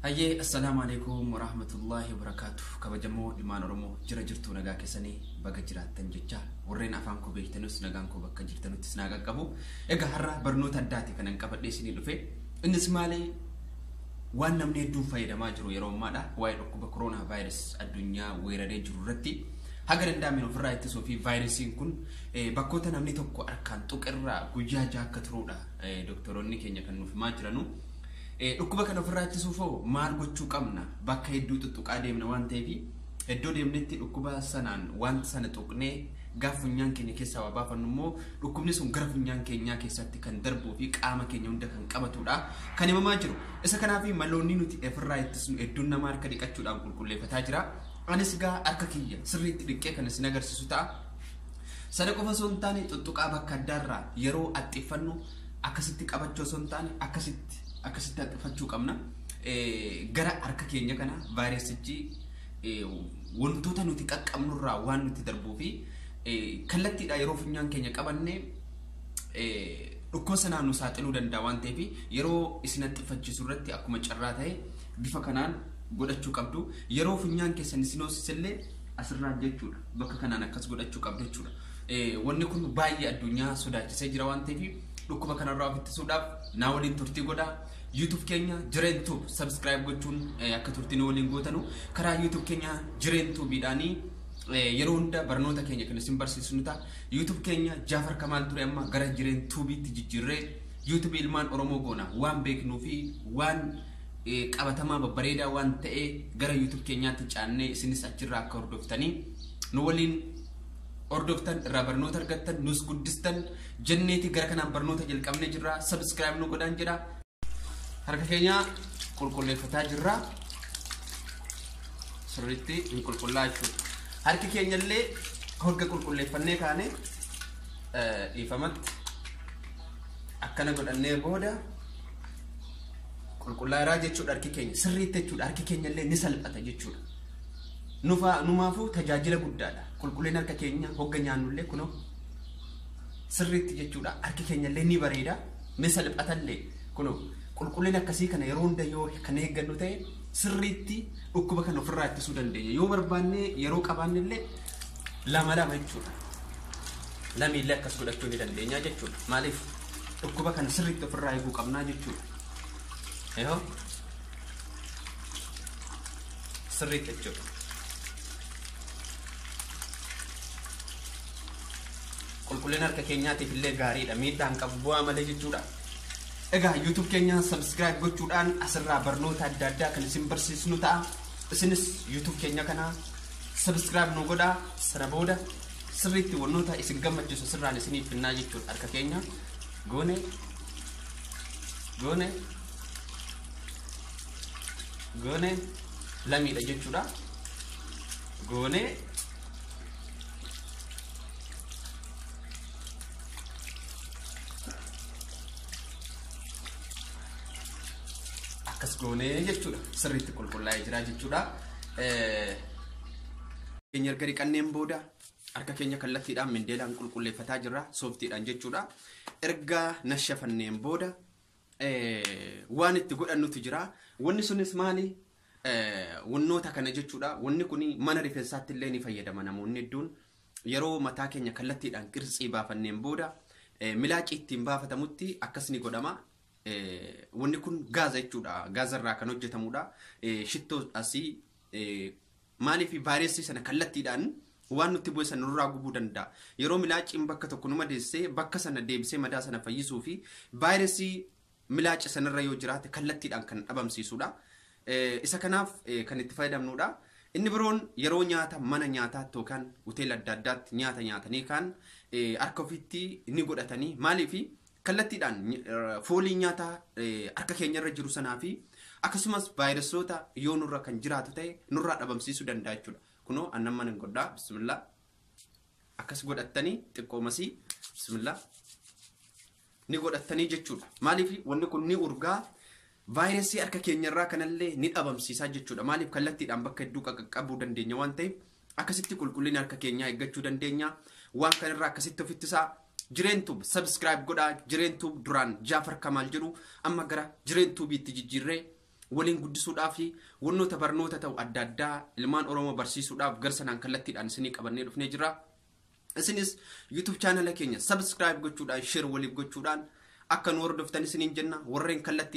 Hayyee assalaamu alaikum warahmatullaahi wabarakaatu kabajamoo ilmaan oromoo jira jirtuu nagaa keessanii baga jiraattan jecha warreen afaan koo beektanus nagaan koo bakka jirtanuttis naa qaqqabu egaa har'a barnoota addaati kanan qabadhee isinii dhufe innis maali waan namni hedduun fayyadamaa jiru yeroo ammaadha waa'ee dhukkuba koroonaa vaayirus addunyaa weeraree jiru irratti haga danda'ameen ofirraa ittisuu fi vaayirasiin kun bakkoota namni tokko harkaan tuqerraa guyyaa jaha akka turuudha Doktoroonni keenya kan nuuf himaa jiranu. Dhukkuba kana ofirraa ittisuuf hoo maal gochuu qabna? Bakka hedduu tuttuqaa deemna waan ta'eef iddoo deemnetti dhukkuba sanaan wanta sana tuqnee gaaf funyaan keenya keessaa waa baafannu immoo dhukkubni sun gara funyaan keenyaa keessatti kan darbuu fi qaama keenya hunda kan qabatudha kan himamaa jiru. Isa kanaaf maloonni nuti ofirraa ittisnu hedduun nama harka dhiqachuudhaan qulqulleeffataa jira. Anis gaa harka kiyya sirriitti dhiqqee kan isin agarsiisu ta'a. Sana qofa osoo hin taane xuxxuqaa bakka addaa irraa yeroo axxiffannu akkasitti qabachuu osoo hin taane akkasitti akkasitti axxiffachuu qabna. Gara harka keenya kana vaayirasichi wantoota nuti qaqqabnu irraa waan nuti darbuu fi kallattiidha yeroo funyaan keenya qabanne dhukkubsa naannoo saaxiluu danda'a waan ta'eef yeroo isin axxiffachiisu irratti akkuma carraa ta'e bifa kanaan godhachuu qabdu. Yeroo funyaan keessan isin hoosisillee asirraa jechuudha. Bakka kanaan akkas godhachuu qabda jechuudha. Wanni kun baay'ee addunyaa sodaachisee jira waan ta'eef dhukkuba kanarraa of ittisuudhaaf naa waliin turtii godha. YouTube keenya Jireen Tube subscribe gochuun akka turtii nu waliin gootanu karaa YouTube keenya Jireen Tubeedhaanii yeroo hunda barnoota keenya kan isin barsiisu ni ta'a. YouTube keenya Jaafar Kamaal ture amma gara Jireen Tubeetti jijjiirree YouTube ilmaan Oromoo goona waan beeknuu fi waan qabatamaa babbareedaa waan ta'ee gara YouTube keenyaatti caannee isinis achirraa akka hordoftanii nu waliin hordoftan irraa barnoota argattan nus guddistan jenneeti gara kanaan barnoota jalqabnee jirra subscribe nu godhaan jedha harka keenya qulqulleeffataa jirra sirriitti hin qulqullaa jechuudha harki keenya illee hogga qulqulleeffannee kaane dhiifamatti akkana godhannee booda Qulqullaa'eeraa jechuudha harki keenya sirriitti jechuudha harki keenya illee ni salphata jechuudha. Nufaa numaafuu tajaajila guddaadha. Qulqullina harka keenya hogga nyaannu illee kunoo sirriitti jechuudha harki keenya illee ni bareeda ni salphata illee kunoo qulqullina akkasii kana yeroo hunda yoo kan eeggannu ta'e sirriitti dhukkuba kana ofirraa ittisuu dandeenya. Yoo barbaanne yeroo qabaanne illee lama lama jechuudha. Lamiillee akkas godhachuu ni dandeenya jechuudha. Maaliif? dhukkuba kana sirriitti ofirraa eeguu qabnaa jechuudha. Yoo sirriitti jechuudha. Qulqullina harka keenyaatiif illee gaariidha. Miidhaa hin qabu bu'aa malee jechuudha. Egaa YouTube keenya subscribe gochuudhaan asirraa barnoota adda addaa kan isin barsiisnu ta'a. Isinis YouTube keenya kana subscribe nu godhaa sana booda sirriitti wannoota isin gammachiisu sirraan isiniif finnaa jechuun harka keenya goone goone goone lamiidha jechuudha goone akkas goone jechuudha sirriitti qulqullaa'ee jira jechuudha. Eh, keenya erga dhiqanneen booda harka keenya kallattiidhaan mindeelaan qulqulleeffataa jirra sooftiidhaan jechuudha. Erga nashafanneen booda eh, waan itti godhannutu jira. Wanni sunis maali? Eh, Wannoota kana jechuudha. Wanni kun mana rifeensaatti illee ni fayyadama namoonni hedduun. Yeroo mataa keenya kallattiidhaan qirtsii baafanneen booda eh, milaacii ittiin baafatamutti akkas ni godhama. Eh, Wanni kun gaaza jechuudha. Gaaza irraa kan hojjetamudha. Eh, Shittoo asii eh, Maaliif vaayirasii sana kallattiidhaan waan nutti bu'e sana nurraa gubuu danda'a. Yeroo milaacciin bakka tokko nu madeesse bakka sana deebisee madaa sana fayyisuu fi vaayirasii milaacci sanarra yoo jiraate kallattiidhaan kan dhabamsiisudha. Eh, Isa kanaaf eh, kan itti fayyadamnudha. Inni biroon yeroo nyaata mana nyaataatti yookaan hoteela adda addaatti nyaata nyaatanii kaan eh, harka ofiitti ni godhatanii maaliif kallattiidhaan foolii nyaataa harka keenyarra jiru sanaa fi akkasumas vaayirasoota yoo nurra kan jiraatu ta'e nurraa dhabamsiisuu danda'a jechuudha. Kunoo annan mana hin godhaa bismillaa akkas godhattanii xiqqoomasii bismillaa ni godhattanii jechuudha. Maaliif wanni kun ni urgaa Vaayirasii harka keenyarraa kanallee ni dhabamsiisa jechuudha. Maaliif kallattiidhaan bakka hedduu qaqqabuu dandeenya waan ta'eef akkasitti qulqullina harka keenyaa eeggachuu dandeenya. Waan kanarraa akkasitti of ittisaa. Jireen Tube subscribe godhaa. Jireen Tube duraan Jaafar Kamaal jedhu amma gara Jireen Tubiitti jijjiirree waliin guddisuudhaa fi wannoota barnoota ta'u adda addaa ilmaan Oromoo barsiisuudhaaf gara sanaan kallattiidhaan isinii qabannee dhufnee jira. Isinis YouTube chaanala keenya subscribe gochuudhaan share waliif gochuudhaan akka nu hordoftan isiniin jenna warreen kallattii